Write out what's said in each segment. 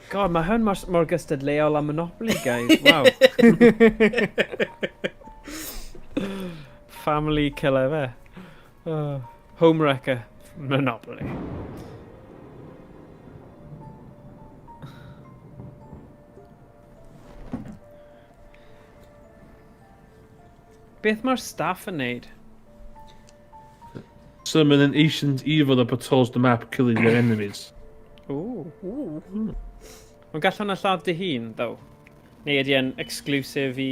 God, mae hwn mor, mor gystadleuol â Monopoly, guys. Wow. Family killer fe. Uh, Homewrecker Monopoly. Beth mae'r staff yn neud? Summon an ancient evil that patrols the map, killing their enemies. Ooh. Ooh. Ond gallwn na lladd dy hun, ddo? Neu ydy e'n exclusive i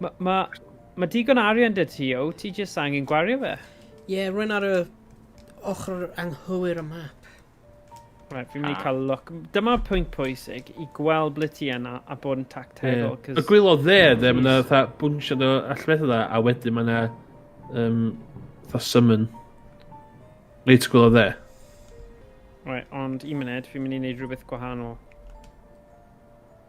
Mae ma, ma digon arian dy ti, o, ti jyst angen gwario fe. Ie, yeah, rwy'n ar y ochr anghywir y map. Right, fi'n mynd i ah. cael look. Dyma pwynt pwysig i gweld ble ti yna a bod yn tactegol. Yeah. Y gwylod dde, dde, mae yna fatha bwnsiad o allfedd dda, a wedyn mae yna um, fatha summon. Reit gwylod dde. Right, ond un munud, fi'n mynd i wneud rhywbeth gwahanol.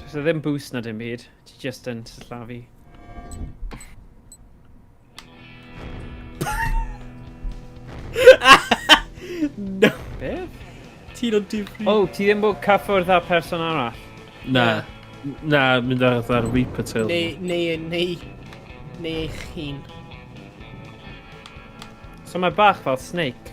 Does e ddim boost na dim byd. Ti just yn slafu. no. Be? Ti'n o'n difri. O, oh, ti ddim bod cyffwrdd â person arall? Na. Na, mynd ar ddar Reaper Tail. Neu, neu, neu, neu eich hun. So mae bach fel Snake.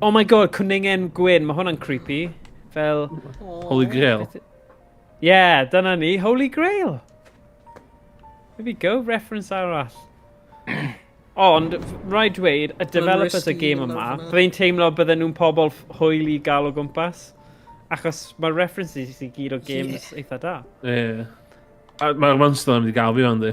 Oh my god, cwningen gwyn. Mae hwnna'n creepy. Fel... Holy Grail. Yeah, dyna ni. Holy Grail. There we go, reference arall. Ond, rhaid dweud, y developers y game yma, byddai'n teimlo bydden nhw'n pobl hwyl i gael o gwmpas. Achos mae'r references i gyd o games yeah. eitha da. Ie. Yeah. Mae'r monster yn mynd i gael fi fan di.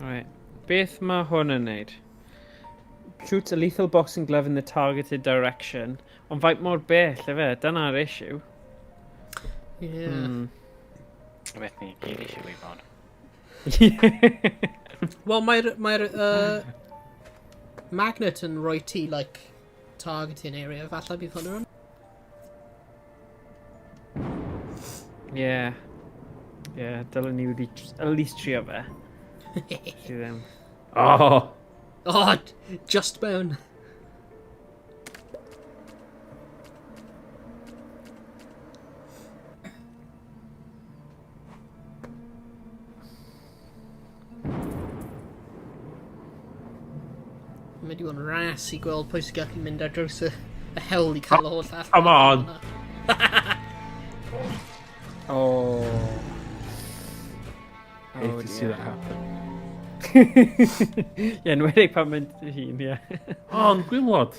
Right. Beth mae hwn yn neud? Shoots a lethal boxing glove in the targeted direction. Ond faint mor bell efe, dyna'r issue. Yeah. Hmm. Beth ni, gyd eisiau ei fod. Wel, mae'r mae uh, magnet yn rhoi ti, like, Targeting area, falle bydd hwnna yn... Yeah. Yeah, dylwn ni wedi at least trio fe. Ti ddim. Oh! Oh, just mewn. Mae digon ras i gweld pwy sy'n gallu mynd ar draws y, y hewl i cael y holl all. Come on! oh. oh Hate oh, to see that happen. Ie, yeah, nwedig pan mynd i hun, ie. Yeah. Ond gwylod.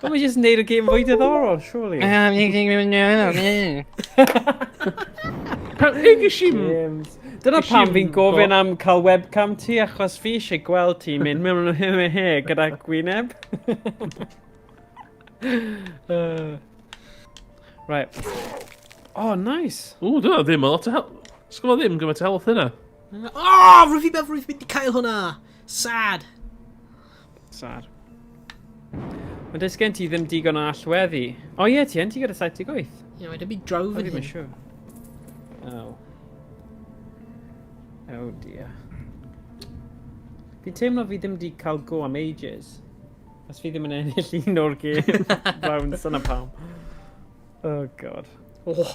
But we just need a game fwy diddorol, surely. James. Dyna pam fi'n gofyn am cael webcam ti, achos fi eisiau gweld ti mynd mewn o hyn he gyda gwyneb. uh, right. Oh, nice. Ooh, dyna ddim o lot o help. Sgwna ddim gymaint o help hynna. Oh, rwy'n fi meddwl rwy'n mynd i cael hwnna. Sad. Sar. Mae dys gen ti ddim digon o allweddi. O ie, ti yn ti gyda 78. Ie, mae dy byd draw fan hyn. Siw. Oh. Oh dear. Fi'n teimlo fi ddim di cael go am ages. Os fi ddim yn ennill un o'r gêm. Round, son am pam. Oh god. Oh.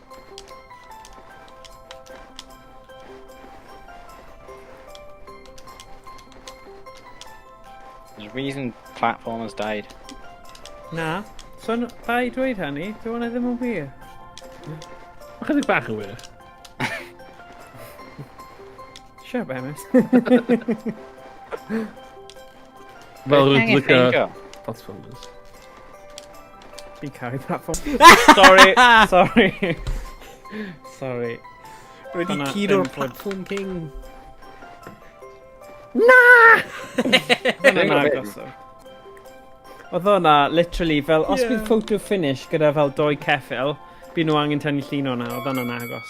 There's a reason platformers died. Na. So, bai dweud hynny, dwi'n hwnna ddim yn wir. Mae chydig bach yn wir. Siap, Emis. Fel rwy'n lygo platformers. Fi'n caru pa ffôn. Sorry, sorry. sorry. Rwy wedi cyd o'r platform king. Na! Oedd o'n agos o. Oedd o'na, literally, fel, os yeah. bydd photo finish gyda fel doi ceffil, bydd nhw angen tynnu llun o'na, oedd o'n agos.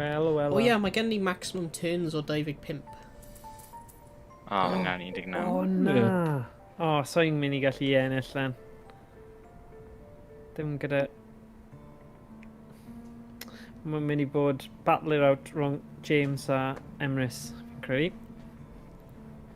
Wel, wel, O ia, mae gen ni maximum turns o 25. O, oh, na, 19. O, na. O, oh, so i'n mynd i gallu ennill lan. Dim gyda... Mae'n mynd i bod battle it out rhwng James a Emrys, fi'n credu.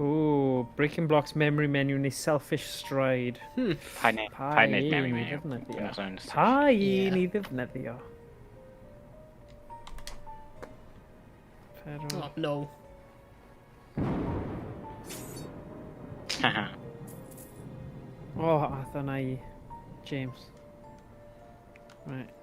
Ooh, Breaking Blocks memory menu neu Selfish Stride. Hmm. Pa un pa un i ddefnyddio? Pa un i ddefnyddio? Pero... Oh, no. Haha. oh, a dyna i James. Right.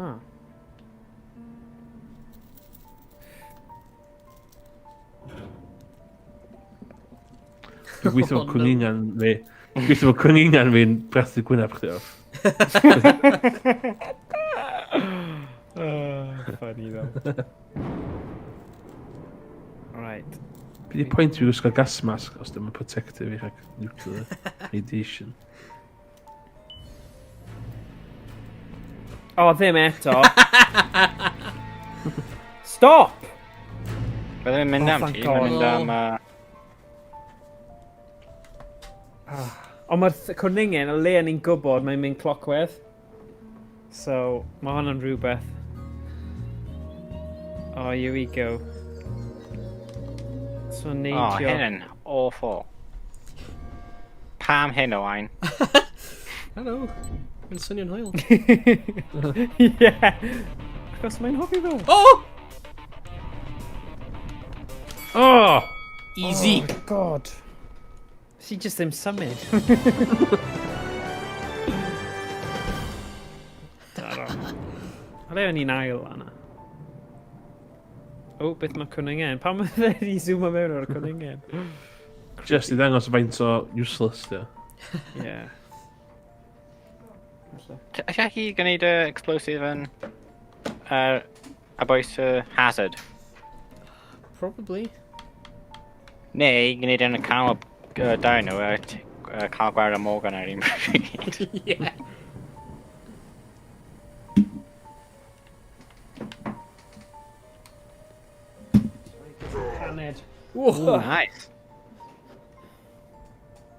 Ah. Dwi'n gweithio fo cwningan fi. Dwi'n gweithio fo cwningan fi'n brathu gwynaf chdi off. Funny ddo. Right. Bydd y pwynt fi wisgo gas mask os dim yn protective i rhag nuclear radiation. O, oh, ddim eto. Stop! Bydde fe'n mynd oh, am ti, mae'n mynd am... Uh... Ond mae'r cwrningen, y le yn ni'n gwybod, mae'n mynd clockwedd. So, mae hwn yn rhywbeth. Oh, here we go. So, neidio. Oh, hyn yn awful. Pam hyn o wain? Hello. Mae'n swnio'n hwyl. yeah. Achos mae'n hofi fel. Oh! Oh! Easy. Oh, God. Ti jyst ddim symud. Alle o'n i'n ail anna. O, oh, beth mae cwningen? Pam mae fe wedi zoom am mewn o'r cwningen? Just i ddangos faint o useless di. Ie. Alla chi gwneud y explosive yn... Ar... About y uh, hazard? Probably. Neu, gwneud yn y canol uh, dau nhw, a uh, cael gwair am Morgan ar un pryd. yeah. Caned. Ooh, nice.